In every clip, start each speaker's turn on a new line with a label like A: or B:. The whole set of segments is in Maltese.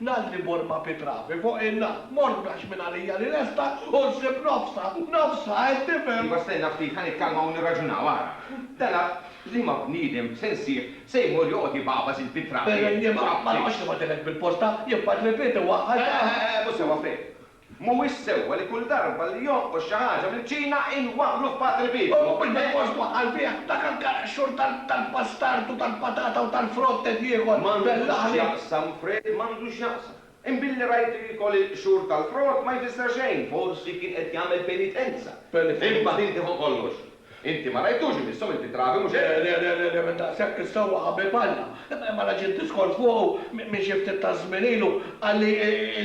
A: Nalli mor ma' Pitravi fuq in-nar, mor mlax minn għalija li lesta u nsib nofsha, nofsha, qed tifhem? Iva stenna ftit, ħa
B: nikkalma u nirraġunaw, ara. Tela' liema bniedem se nsib se jmur joqgħod ibagħbas il-Pitravi? Jiema, ma noqgħodx nibgħatilek
A: bil-posta, jien Padre Piet iwaħħal dan. Eħe, eħe, mhux sewwa, Fred.
B: Mhuwiex sewwa li kull darba li jonqos xi ħaġa mill-Ċina inwaħħlu f'Padre Pio. U mhux bilfors twaħħal
A: bih dak il-karg xhur tal-bastard u tal-patata u tal-frott ed ieħor bell-aħli. M'għandu x'jaqsam,
B: Fred, m'għandu x'jaqsam. Imbilli rajt li jkun il-qxur tal-frott ma jfisser xejn, forsi kien qed jagħmel penitenza. Imbagħad inti fuq kollox. Inti ma rajtux imissu, inti trabi, mhux hekk? Le, le, le, le, minn daqshekk
A: is-sewwa qabel balla. Imma reġgħet diskors fuqu minn xi ftit taż-żmien ilu, qalli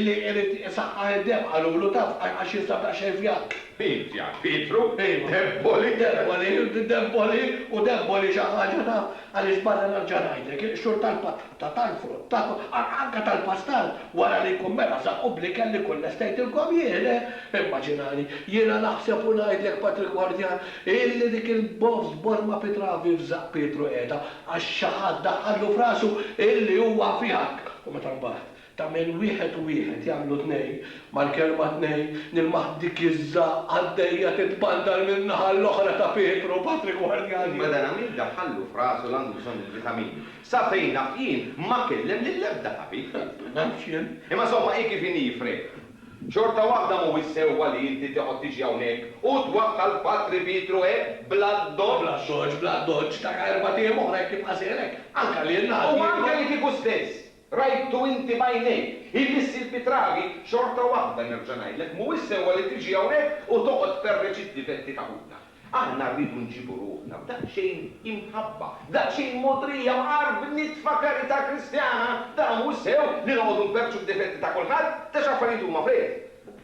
A: li irid isaħħaħ id-demm, qalulu, taf, għax jinsab daqsxejn fjakk. Int, jgħid Pietru,
B: int debboli. Debboli, debboli, u debboli xi
A: ħaġa, taf, għaliex barra nerġa' ngħidlek, xhur tal-patt. ta' tal-frott, ta' anke tal-pastar, wara li jkun mela żaqqu bl-ikel li jkun lestejtilkom jien, eh! Immaġinani, jiena naħseb u ngħidlek, Patrick Gwardjan, illi dik il-bofs borma pitravi f'żaqq Pietru qiegħda għax xi ħadd daħħallu f'rasu illi huwa fihak! U meta mbagħad, Tagħmel wieħed u wieħed jagħmlu tnejn, mal-kelma tnejn nilmaħ dik iż-ża għaddejja titbandar min-naħa l-oħra ta' Pietru, Patri gwardjani. Imma dan Amir daħħallu
B: f'rasu li għandu bżonn il-vitamini. Sa fejn naf jien ma kellem lill-ebda tabib. Ma nafx jien.
A: Imma somma hi kif inhi,
B: Frè. Xorta waħda mhuwiex sewwa li inti teqgħod tiġi hawnhekk u twaħħal Patri Pietru hekk bla ddoċċ. Bla ddoċċ, bla ddoċċ, ta'
A: erbat ijiem oħra jekk jibqa' seher hekk, anke lilna ħadd jieħu. U anke li kieku
B: stess, Rajtu inti b'għajnejk. Hi li ssir bi trabi, xorta waħda nerġa' ngħidlek, mhuwiex sewwa li tiġi hawnhekk u toqgħod tferreġ id-difetti ta' ħutna. Aħna rridu nġibu ruħna b'daqsxejn imħabba, daqsxejn mogħdrija u għar b'nitfa karità Kristjana. Dan mhuwiex sew li noqogħdu nferrġu d-difetti ta' kulħadd, ta' x'affarijiet huma f'rejjel.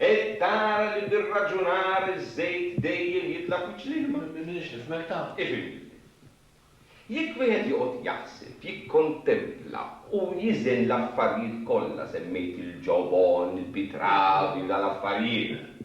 A: Hekk
B: tara li bir-raġunar iż-żejt dejjem jitla' f'wiċċ l-ilma. Minix nifhmek tant,
A: ifhimni. Jekk
B: wieħed joqgħod jaħseb, jikkontempla u jiżen l-affarijiet kollha semmejt il-ġobon, il-pitrav, jew dal-affarijiet,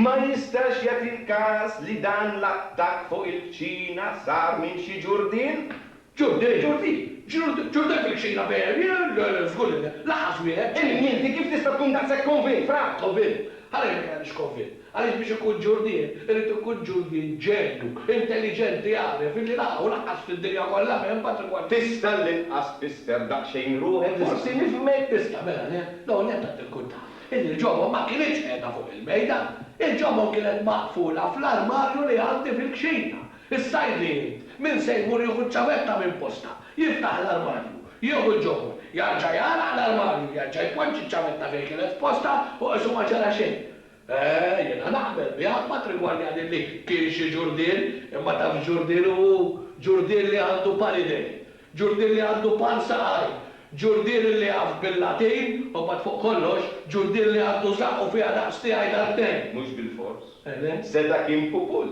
B: ma jistax jagħti l-każ li dan l-attakk fuq il-kċina sar minn xi ġurdien? Ġurdi, Ġurdi, Ġurdi, Ġurdi hemm fil-kċina ferm, jien żgur li le, laħas wieħed. Imnni inti kif tista' tkun daqshekk konvint, Fra? Konvint? Għaliex ma
A: jgħidx konvint? Għaliex biex ikun ġurdien irid ikun ġurdien ġenju, intelliġenti jagħref illi la hawn laqqas fid-dinja kollha m'hemm patrimonju. Tista' l-inqas
B: tfisser daqsxejn ruħek forsi nifhmek?
A: Tista' mela le? L-ewwel nett għad tirkunta illi l-ġobon ma kinitx qiegħda fuq il-mejda. Il-ġobon kienet maqfula fl-armarju li għandi fil-kċina. Issa jrid irid, min se jmur jieħu ċ-ċavetta minn postha, jiftaħ l-armarju, jieħu l-ġobon, jarġa' jagħlaq l-armarju, jerġa' jpoġġi ċ-ċavetta fejn kienet f'postha u qisu ma ġara xejn. Eh, jiena naqbel miegħek matrimonjali li kien xi ġurdien, imma taf x'ġurdien hu? Ġurdien li għandu par idejn, ġurdien li għandu par saqajn, ġurdien li jaf bil-Latin u mbagħad fuq kollox, ġurdien li għandu żaqqu fiha daqs tiegħi darbtejn. Mhux bilfors.
B: Seta' kien pupul.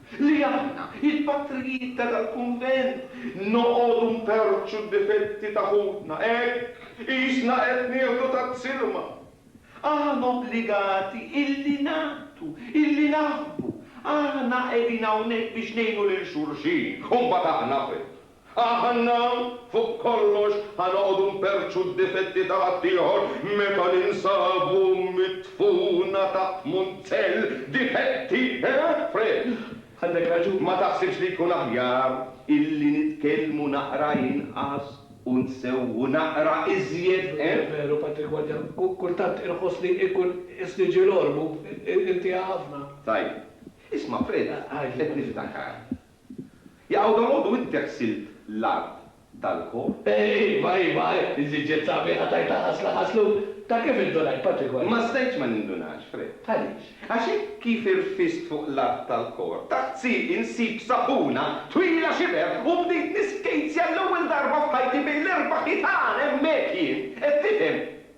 B: Li aħna, il-patrijiet ta' dal-kunvent, noqogħdu nperrċu d-difetti ta' ħutna hekk, qisna qed nieħdu taz-zilma. Aħna obbligati illi nagħtu, illi naħbu. Aħna qegħdin hawnhekk biex ngħinu lil xulxin u mbagħad aħna fejn? Aħna fuq kollox ħa noqogħdu nperrċu d-difetti ta' ħaddieħor meta ninsabu midfuna taħt munzell difetti, eh, Fred? Għandek raġun.
A: Ma taħsibx li jkun
B: aħjar illi nitkellmu naqra inqas u nsewwu naqra iżjed, eh? Veru, Patrick
A: Wadja. Kultant inħossni inkun qis li ġiel ormu. Intiha ħafna. Tajjeb.
B: Isma', Fred, qed niftakar. Jaqaw dalgħodu inti ħsilt l-art tal-kor? Iva, iva,
A: iżiġġet sabiħa tajta ħasla ħaslu. Ta' kif indunajt patrikwali? Ma stajtx ma nindunax,
B: Fred. Għaliex? Għax
A: hekk kif
B: irfist fuq l-art tal-kor, taħt sieqi nsib sapuna twila xiber u bdejt niskejtzja l-ewwel darba f'ħajti bejn l-erba' ħitan hemmhekk jien, qed tifhem?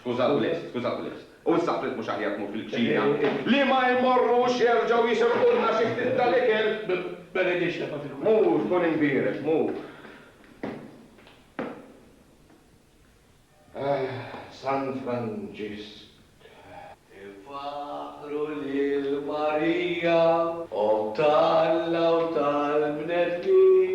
A: Skuża Willis, skuża
B: Willis. U issa qliet mhux aħjar tmur fil-kċina? Li ma jmorrux jerġgħu jisilqulna xi ftit tal-ikel? Benedix tefa'
A: fil-kwiet. Mur, tkun imbierek,
B: mur. Ah, San Franġisk. Infaħħru
A: lil Marija, Omm t'Alla u tal-bnedmin.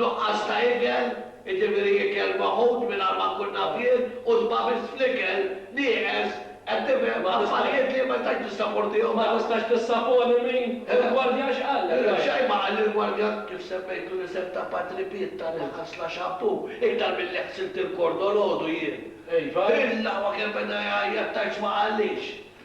A: Nuqqas ta' ikel, jiġifieri ikel maħud mingħajr ma nkun naf jien u tbagħbis fl-ikel, nieqes, qed tifhem, affarijiet li ma nistax nissaportihom. Ma tistax tissapori
C: min? Il-gwardjan x'qallek? Xejn ma qalli l-gwardjan,
A: kif semmejtlu l-isem ta' Patri Piet ta li ħassla xampù, iktar milli ħsilt il-kord dolodu jien. Iva? Il-laqwa
C: kemm beda
A: jgħajjat tgħidx ma qallix.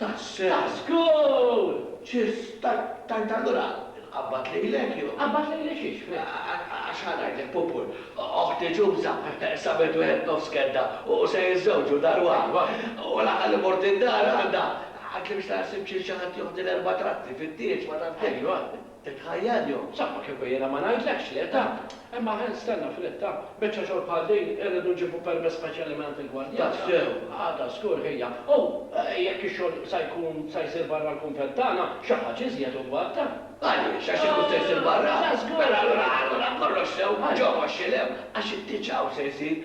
C: Tax-xogħol! Ċiss!
A: Tajt allura inqabbad lilek jew? Inqabbad lili xiex, fl-.
C: Għax ħa ngħidlek,
A: Pupur, oħti Ġuża sabet wieħed nofs kedda u se jiżżewġu dar waħda. U l-aħħar li mort id-dar għandha, għidtli biex tara ssib xi xi ħadd joħdi l-erba' tratti fit-tieġ ma taf kif. Ajwa. Titħajjar jew? Saqqa kieku jiena ma
C: ngħidlekx le, taf! Imma ħen stenna f'rit, taf! Biċċa xogħol bħal din, irridu nġibu permess speċjali mingħand il-gwardjana. Tassew? Għada żgur ħija. U jekk ix-xogħol sa jkun sa jsir barra l-kunvent tagħna, xi ħaġa iżjed ugual, taf! Għaliex? Għax ikun
A: se jsir barra? Mela allura, allura kollox sew, ġewwa x-xilew, għax it-tieġ hawn se jsir.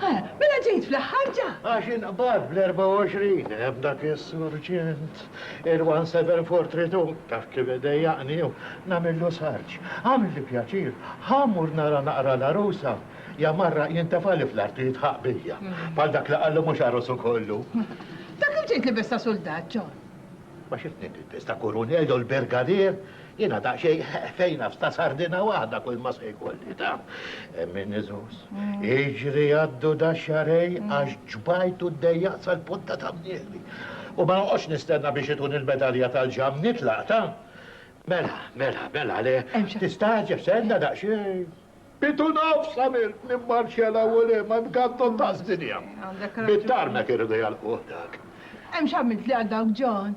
D: Ara, mela
E: ġejt fl-aħħar ġa! Għax inqbad
D: bl-24 hemm dak is-surġent, il-1743, taf kif idejjaqni u nagħmillu sarġ. Għamilli pjaċir, ħa mmur nara naqra l-għarusa. Ja marraq jintefali fl-art u jitħaq bija. Bħal dak li qallu mhux għarusu kollu. Ta' kif ġejt
E: libes ta' suldat, John? Ma xi tnejn
D: ilbes ta' kurunell u l-birgadier? Jiena daqsxejn ħefejna f'sta sardina waħda kulma se jkolli ta'. Min iżus. Iġri għaddu da xarej għax ġbajtu d-dejjaq sal-punta ta' mnieli. U ma noqgħodx nistenna biex ituni l-medalja tal-ġamm nitlaq ta'. Mela, mela, mela le. Tistagħġeb stenna daqsxejn. Bit u nofs għamilt nimmarċja 'l hawn u 'l hemm għand Gandon ta' Żdinja. Bit-tarmek irridu jagħlquh dak. Hemm x'għamilt
E: li għal dawk John?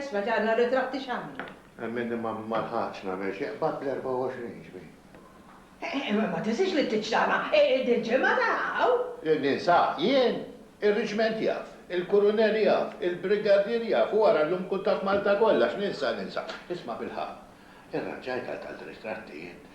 E: Isma' ġarna r-ritratti x'għamlu. Hemm min
D: ma lħaqx nagħmel xi qbad bl-24 ġbir. Imma
E: ma tinsiex li t-Tiċċana hi dil-ġimgħa ta' hawn! Li ninsah
D: jien? Ir-Riġment jaf, il-Kurunell jaf, il-Brigadier jaf u ara llum kultant Malta kollha x'ninsa ninsa. Isma' bilħaqq, irranġajt għal tant ritratti int?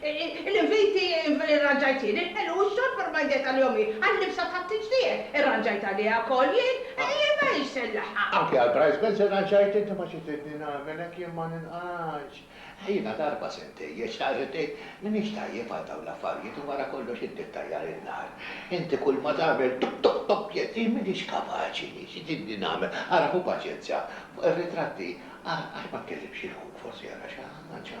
E: Il-inviti rranġajt jien, il-ħelu u x-xorb irmajdet għalihom jien, għal-libsa tat-tiġdieħ irranġajt għaliha wkoll jien, ejja ma hix se nlaħħaq. Anke għall-price bells
D: irranġajt inti ma xi tridni nagħmel hekk jien ma ninqgħadx. Jiena darba se ntejjeb, xtaqt li tgħid m'iniex tajjeb għal dawn l-affarijiet u wara kollox inti ttajjar in-nar. Inti kulma tagħmel tuk tuk tuk jekk jien m'iniex kapaċi jien xi tridni nagħmel. Ara ħu paċenzja fuq ir-ritratti ara għax ma tkellimx lil ħuk forsi ara xi ħaġa.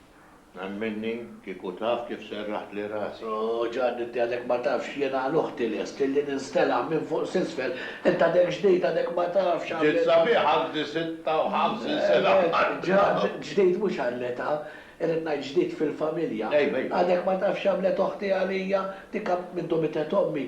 A: Hemm
D: minni, kieku taf kif serraħtli rasi. O Ġanni, inti għadek
A: ma tafx, jiena għal uħti lest illi ninstela' minn fuq s'isfel, int għadek ġdid, għadek ma tafx għall-età. Ġiet sabiħa għandi
D: sitta u ħamsin sena bħal dawn. Ġan,
A: ġdid mhux għall-età, irrid ngħid ġdid fil-familja. Għadek ma tafx x'għamlet oħti għalija, dik minn dum mitgħet ommi,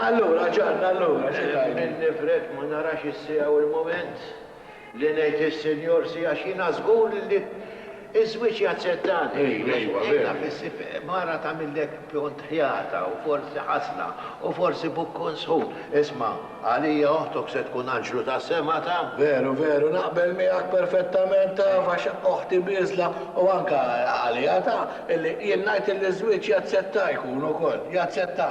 A: Allura, Ġann, allura, xi tgħid? Nemmen nifrek ma
D: narax is-siegħa u l-mument li ngħid lis-Sinjor si għax jiena żgur li ż-żwieġ jaċċettani. Ejwa, veru. Taf issib mara tagħmillek pjont ħjata u forsi ħasna u forsi bukkun sħun. Isma', għalija oħtok se tkun anġlu tas-sema, taf? Veru, veru, naqbel
A: miegħek perfettament, taf, għax oħti bieżla u anke għalija, taf, illi jien ngħid illi ż-żwieġ jaċċetta jkun ukoll, jaċċetta.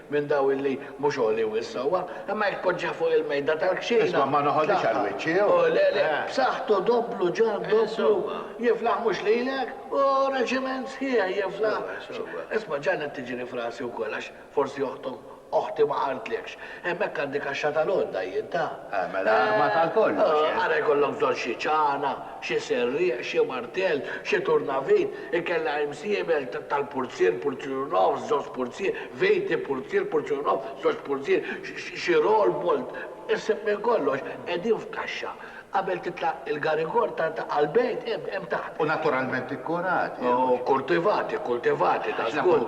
A: minn daw illi mhux għoli wisq sewwa, imma jekk tpoġġih fuq il-mejda tal-kxejna tagħha. Isma', ma noħodhiex għal
D: wiċċi, hu! Hu, le, le,
A: b'saħħtu dopplu ġar dopplu jiflaħ mhux lilek, hu reġiment sħiħ jiflaħ. Isma', ġannet tiġri f'rasi wkoll għax forsi oħtok, oħti ma qaltlekx. Hemmhekk għandi kaxxa tal-għodda jien, ta? Mela armata għal
D: kollox, eh? Ara jkollok bżonn
A: xi ċana, Xi serrieq, xi martell, xi turnavejt, inkella imsiebel tal-purzier, purzier u nofs, żewġ purzier, vejti, purzier, purzier u nofs, żewġ purzier, xi roll, bolt, iħseb minn kollox qegħdin f'kaxxa. Qabel titla' il-garigor ta' għall-bejt hemm taħt. U naturalment
D: ikkurati. U kkultivati,
A: kkultivati, dażgur.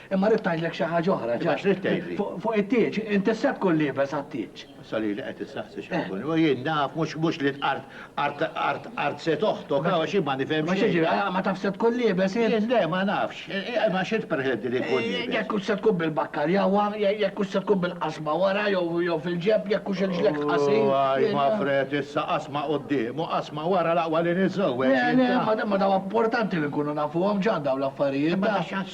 A: Imma rrid ngħidlek xi ħaġa oħra. Imma x'ridt tgħidli?
D: Fuq it-tieġ, int
A: issa tkun liebes għat-tieġ. Issa lili qed issaqsi
D: x'ħankun. U jien naf mhux li tqarrt qart qart qart se toħtok, għaw għax jien ma nifhem xejn. Ma x'jiġri, ah, ma tafx se
A: tkun liebes int? Jien le, ma nafx.
D: Imma x'int perħedni li nkun liebes? Jekk hux se tkun
A: bil-bakkarjawa, jekk hux se tkun bil-qasma wara jew jew fil-ġenb, jekk hux irġlek qasir. U għaj ma fred
D: issa qasma quddiem u qasma wara l-aqwa li niżżewweġ jien. Le, le, imma daw importanti
A: li nkunu nafuhom x'għandhom l-affarijiet. Imma ta' x'għadd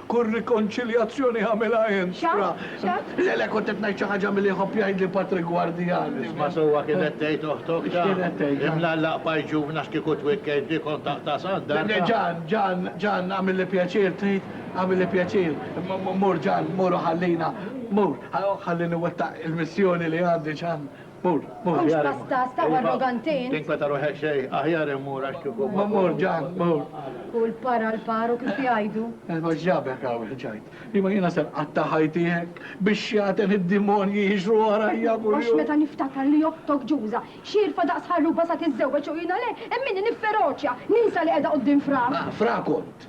A: Kull rikonċiljazzjoni għamilha int. Xa? Xa? Le,
F: le, kont qed ngħid
A: xi ħaġa milli jħobb jgħidli Patrick Guardiani. Isma' sewwa kif qed
D: tgħid oħtok, X'kien Ġan. qed tgħid, Ġan? Imlallaq
A: paj ġuvn
D: għax kieku twikkejt bih kont taqta' sandar, Le, le, ta'. Ġan, Ġan,
A: Ġan, agħmilli pjaċir, trid? Agħmilli pjaċir. Mur, Ġan, mur u ħallina. Mur, ħallini nwettaq il-missjoni li għandi, Ġan. M'hawnx pasta,
F: staqwa arroganti int. Tinkweta ruħek xejn,
D: aħjar immur għax kieku ma mmur ġan, mmur.
A: Kull par għal
F: par u kif jgħidu. Imma x'ġabek
A: hawn, ġajt. Imma jiena se nqatta' ħajti hekk, bix-xjaten id-dimonji jiġru warajja kuljum. Għax meta niftakar
F: li oħtok Ġuża, xierfa daqs ħarruba sa tiżżewweġ u jiena le, hemm minni nifferoċja, ninsa li qiegħda quddiem fra. Fra kont.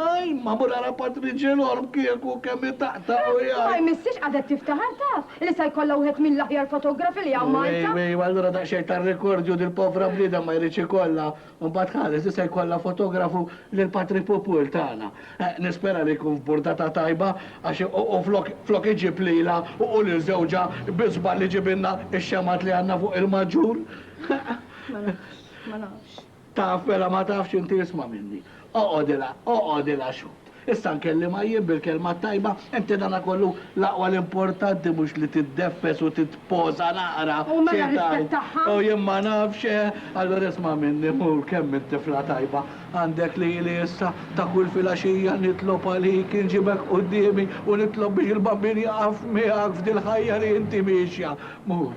A: Aj, ma murara Patriġenorm kieku kemm itaqtaq u jgħid. Ma jmissiex qagħdet
F: tiftaħar taf li sa jkollha wieħed mill-aħjar fotografi li hawn Malta. Wi, wi, allura daqsxejn ta'
A: rikordju din il-povra bniedem ma jridx ikollha. U mbagħad ħares li se jkollha fotografu lil Patri Pupul tagħna. Nispera li jkun f'burdata tajba għax u flok flok iġib lilha u lil żewġha bi żball iġibilna x-xemgħat li għandna fuq il-maġġur. Ma nafx, ma nafx.
F: Taf, mela ma
A: tafx inti isma' minni. Oqgħodilha, oqgħodilha x'għodd. Issa nkellimha jien bil-kelma t-tajba, inti danakollu l-aqwa l-importanti mhux li tiddeffes u titposa naqra, xi tgħid? U mela rispettaha?
F: U jien ma nafx,
A: eh? Allura isma' minni, mur kemm int tifla tajba, għandek lili issa, ta' kull filgħaxija nitlob għalik, inġibek quddiemi u nitlob biex il-Bambin jaqaf miegħek f'dil-ħajja li inti miexja. Mur,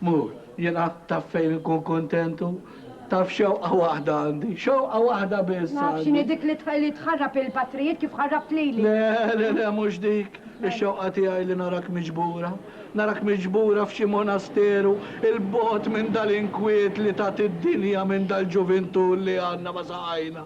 A: Mur, jiena taf fejn inkun kuntent u taf xewqa waħda għandi, xewqa waħda biss għandi. Naf x'inhi dik
F: li tħarrab il-patrijiet kif ħarrabt
A: lili. Le, le, le, mhux
F: dik.
A: Ix-xewqa
F: tiegħi
A: li narak
F: miġbura.
A: Narak miġbura f'xi monasteru 'il bogħod minn dal-inkwiet li tat id-dinja minn dal-ġuvintù li għandna ma saqajna.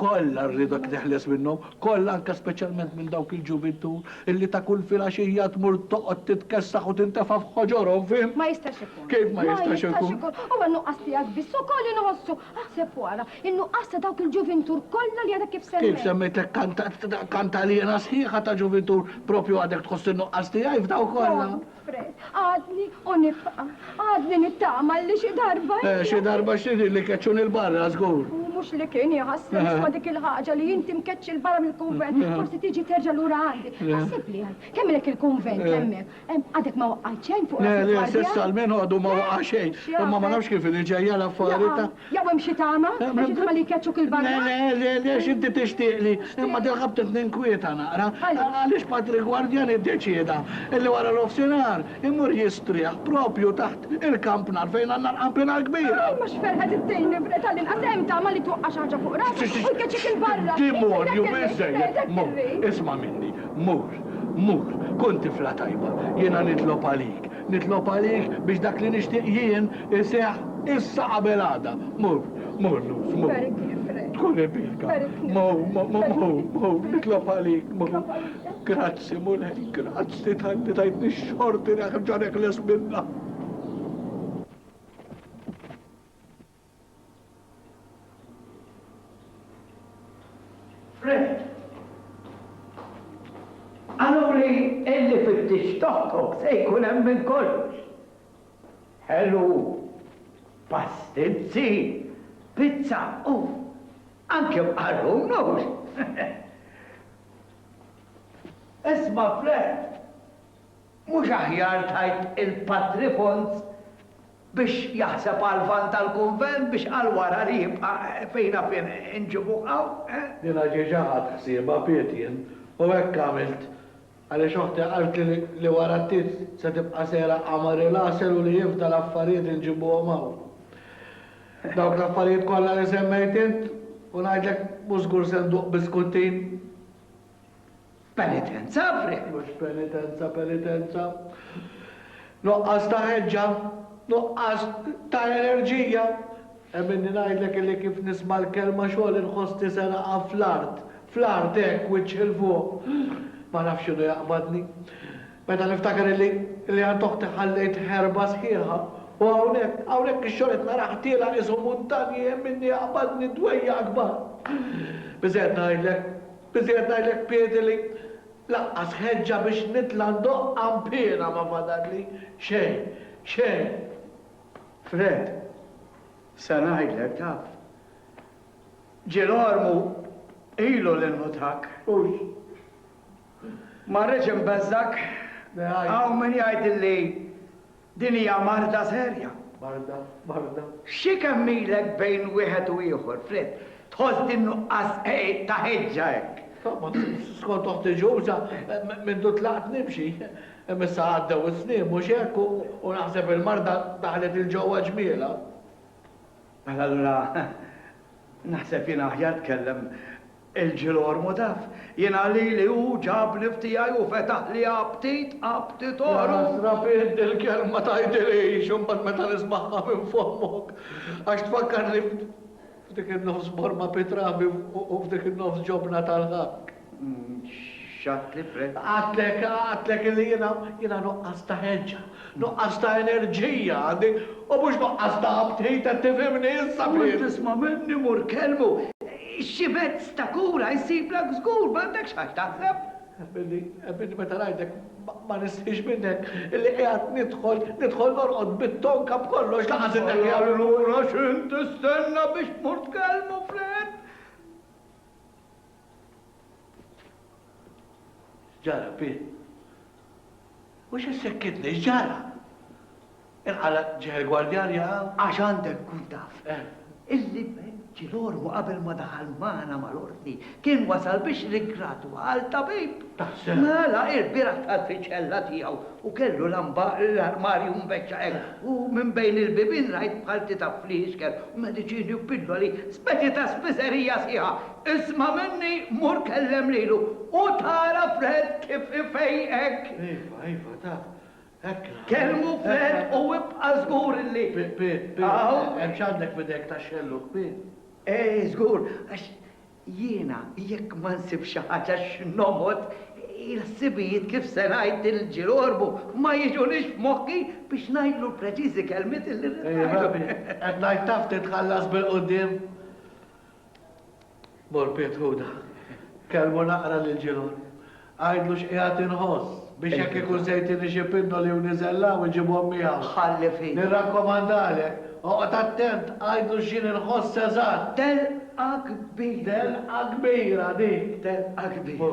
A: Kollha rridek teħles minnhom, kollha anke speċjalment minn dawk il-ġuvintur illi ta' kull filgħaxija tmur toqgħod titkessaħ u tintefa' f'ħoġorhom, fhimt? Ma jistax ikun. Kif
F: ma jistax ikun? Ma jistax
A: ikun. Huwa n-nuqqas tiegħek
F: biss ukoll inħossu. Aħseb u ara, in-nuqqas ta' dawk il-ġuvintur kollha li għadek kif semmejt. Kif semmejtlek
A: kant, kant għaliena sħiħa ta' ġuvintur, proprju għadek tħoss in-nuqqas tiegħi f'daw kollha. Fred, għadni
F: u nibqa'. Għadni nittama li xi darba. Eh, xi darba x'trid
A: li keċċuni l-barra żgur. U mhux li kien
F: jħassni nisma' dik il-ħaġa li inti mkeċċi l-barra mill-kunvent, forsi tiġi terġa' lura għandi. Ħassib li għad, kemmilek il-kunvent hemmhekk. Għadek ma waqgħet xejn fuq. Le, le, s'issa l-min
A: għadu ma waqa' xejn. Imma ma nafx kif li ġejja l-affarijiet. Jew hemm xi tama?
F: Hemm xi tama li jkeċċuk 'il barra? Le, le, le, le, x'inti
A: tixtieqli, imma dil-ħabta qed ninkwieta naqra. Għaliex? Għaliex Patrick Guardiani ddeċieda li wara nofsinhar imur jistrieħ propju taħt il-kampnar fejn għandna l-kampina l-kbira. Imma x'ferħet ittini,
F: tal-inqas hemm tama li twaqqa' xi ħaġa fuq rasek u jkeċċik 'il barra. Demonju biżżejjed!
A: Mur, isma' minni, mur, mur, kun tifla tajba, jiena nitlob għalik. Nitlob għalik biex dak li nixtieq jien iseħħ issa qabel għada. Mur, mur Luz, mur. Tkun irbielka. Mur, mur, mur, nitlob għalik, mur. Grazzi, Mulej, grazzi talli tajtni x-xorti nerġa' neħles minnha.
G: Fred, Qaluli illi fit-tix togħtok se jkun hemm minn kollox. Ħelu, pastinzi, pizza u anke mqarrun, hux? Isma' Fred, mhux aħjar tgħid il-patrifont biex jaħseb għall-Lvant tal-Kunvent biex għal wara li jibqa' fejn għafien inġibuh hawn, eh? Jiena diġà
A: ħadt ħsiebha, bqejt jien, u hekk għamilt. Għaliex oħti qaltli li wara ftit se tibqa' sejra qamar il-għasel u li jifda l-affarijiet inġibuhom hawn. Dawk l-affarijiet kollha li semmejt int, u ngħidlek mhux żgur se nduq biskuttin.
G: Penitenza, Fred, mhux penitenza,
A: penitenza. Nuqqas ta' ħeġġa, nuqqas ta' enerġija. Hemm inni ngħidlek illi kif nisma' l-kelma xogħol inħossni se naqa' fl-art, fl-art hekk, wiċċ 'il fuq. Ma nafx x'inhu jaqbadni. Meta niftakar illi, illi għand oħti ħallejt ħerba sħiħa, u hawnhekk, hawnhekk ix-xogħol qed narah tiela' qisu muntanji hemm inni jaqbadni dwejjaq kbar. Biżżejjed ngħidlek, Iżjed ngħidlek piedi li lanqas ħeġġa biex nitla' ndoqq għanpiena ma fadalli. Xejn. Xejn.
G: Fred, se ngħidlek, taf. Ġirolmu ilu li nnutak. Hux. Ma rridx inbeżżgħek. Hawn min jgħidilli. Din hija marda serja. Marda, marda.
A: Xi kemm
G: ilek bejn wieħed u ieħor, Fred, tħoss din nuqqas ta' ħeġġa hekk? Skont
A: oħti Ġuża, mindu tlaqt nimxi. Imma issa għaddew is-snin, mhux hekk, u naħseb il-marda daħlet 'il ġewwa ġmielha.
G: Mela allura naħseb jien aħjar tkellem Il-ġilgħor mhu taf, jiena lili hu ġabni f'tiegħi u fetaħli aptit, apptitorum. Jaħasra fih
A: dil-kelma tgħidilhiex imbagħad meta nismagħha minn fommok, għax tfakkarni f'dik in-nofs borma bi trabi u f'dik in-nofs ġobna tal-ħakk.
G: X'għadtli, Fred? Għadtlek, għadtlek
A: illi jiena, jiena nuqqas ta' ħeġġa. Nuqqas ta' enerġija għandi u mhux nuqqas ta' aptit qed tifhimni issa Pin? Kont tisma' minni mur
G: kellmu. Xi mezz ta' kura jsiblek żgur m'għandekx għax taħseb. Billi
A: billi meta ngħidlek ma nistħix minnek illi qiegħed nidħol nidħol norqod bit-tonka b'kollox lanqas inneħħi għal lura. Allura x'int
G: tistenna biex tmur tkellmu Fred?
A: X'ġara, Pi? U xi ssekkitni, x'ġara?
G: Inqala'
A: ġieħ
G: il-gwardjan
A: jaqaw?
G: Għax għandek
A: tkun taf illi
G: Ventilormu qabel ma daħal magħna mal-Ordni kien wasal biex riggradwal tabib. Taħseb? Mela, ilbieraħ dħal fiċ-ċella tiegħu u kellu lamba l-armarju mbeċċa hekk u minn bejn il-bibien rajt bħal titgħab fl-iskeb u mediċini u pilloli, speċi ta' spiżerija sħiħa, Isma' minni mur kellem lilu u tara Fred kif ifejqek. Iva, iva,
A: taf, hekk naħseb. Kellmu
G: Fred u ibqa' żgur li. Pi, pi, pi,
A: hemm x'għandek f'idejk tax-xellug, pi? Eh,
G: żgur, għax jiena jekk ma nsibx xi ħaġa x'noħod, il-ħsibijiet kif se ngħid il-ġil għorbu ma jiġunix f'moħħi biex ngħidlu l-preċiżi kelmiet li rrid ngħidlu. Iva, pi, qed
A: ngħid taf titħallas bil-quddiem. Mor Piet Ħuda. Kellmu naqra lil Ġilgħon. Għidlu x'qiegħed inħoss, biex jekk ikun se jtini xi pinnoli u niżel hawn, iġibhom miegħu. Ħalli f'idni.
G: Nirrakkomandalek,
A: oqgħod attent, għidlu x'jien inħoss eżatt. Telqa
G: kbira. Telqa kbira
A: dik. Telqa kbira.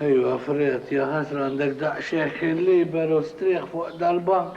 A: Ejwa, Fred, ja ħasra għandek daqshekk il-liberu strieħ fuq dal-bank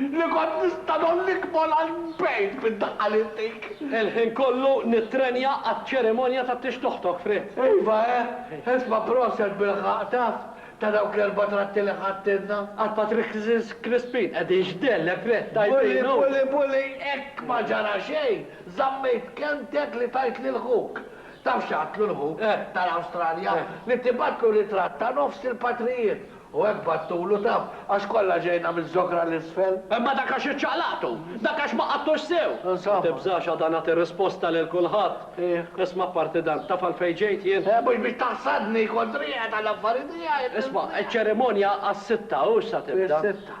A: Li kont nista' ngħollik mol għal bgħid bid-daqqa li ntik. Il-ħin kollu
C: nittrenja għaċ-ċerimonja ta' tixt oħtok, Fred. Iva, eh!
A: Isma' proset bilħaqq, taf, ta' dawk l-erba' tratti li ħadtilna. Għal Patrick's
C: Crispin, qegħdin x'dellek, Fred, tajbin, hu! Bully, bully, bully,
A: hekk ma ġara xejn, żammejt kelmtek li tajt lil ħuk. Taf x'għadtlu l-ħuk tal-Awstralja? Li tibgħatlu ritratt ta' nofs il-patrijiet U hekk battulu taf, għax kollha ġejna miż-żokra 'l isfel. Imma dak għax
C: iċċaqlaqtu! Dak għax ma qadtux sew! Insomma. Ma tibżax għada nagħti risposta lil kulħadd. Iva. Isma' apparti dan, taf għalfejn ġejt jien? Eh, mhux biex taħsadni
A: kont riegħed għall-affari tiegħi! Isma', iċ-ċerimonja
C: għas-sitta, hux sa tibda. Is-sitta.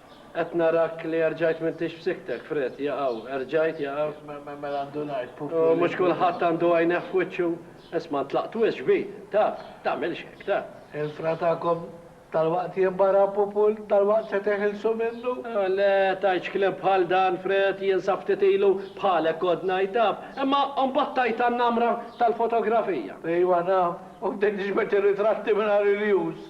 C: Qed narak li erġajt m'intix f'siktek, Fred, jaqaw, erġajt, jaqaw. Mela għandu ngħid
A: pupulli. U mhux kulħadd
C: għandu għajnejh f'wiċċu. Isma' ntlaqt wisq kbir, taf, tagħmilx hekk, taf. Il-fra tagħkom
A: dalwaqt jinbara pupul, dalwaqt se teħilsu minnu. Le, tgħidx
C: kliem bħal dan, Fred, jien sa ftit ilu bħalek kont ngħid, taf, imma mbagħad tajt għan-namra tal-fotografija. Ejwa naf,
A: u bdejt niġbed ir-ritratti mingħajr irjus.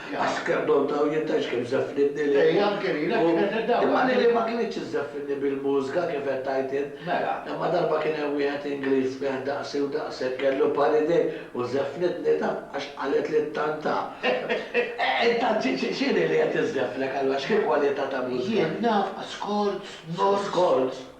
A: Għax kemm donta u jien tgħidx kif żeffnitni li. Ejja anke lili hekk kienet
D: id-dawra. Imma lili ma kinitx
A: iżżeffnitni bil-mużga kif qed tgħid int. Mela. Imma darba kien hemm wieħed Ingliż fih daqsi u daqshekk kellu bħal idejh u żeffnitni taf għax qalet li tant ta. Intant x'inhi li qed iżżeffnek allura x'hi kwalità ta' mużga? Jien naf, ascolts,
D: notes. Scolts.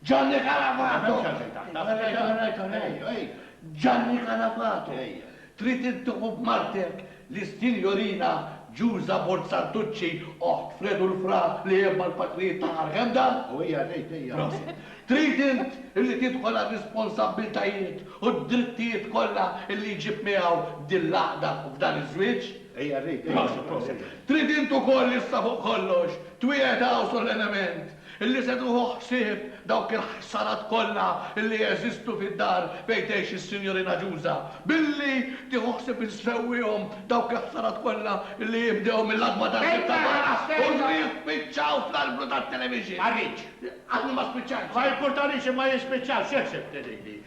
E: Gianni
A: Calafato! Gianni Calafato! Trid intuħu b'Martek lis-Sinjorina Giusa Borzantucci, oħt Fredu l-Fra li hemm mal-patrijiet ta' Arganda? U hija tgħid hija. Prosit.
D: Trid int
A: illi tidħol għar-risponsabbiltajiet u d-drittijiet kollha illi jġib miegħu din l-għaqda f'dan iż-żwieġ? Hija tgħid hija.
D: Prosit, prosit. Trid int
A: ukoll issa fuq kollox twiegħed hawn solennement Illi se tieħu ħsieb dawk il-ħsarat kollha illi jeżistu fid-dar fejn tgħix is-Sinjorina Ġuża, billi tieħu ħsieb insewwihom dawk il-ħsarat kollha illi jinbdew mill-għatba tal-bieb ta' barra u jispiċċaw fl-arblu tat-television. Ma rridx. Għadni
D: ma spiċċajtx.
A: Ma jimpurtanix imma
D: jispiċċaw, x'jeħseb Tenilli?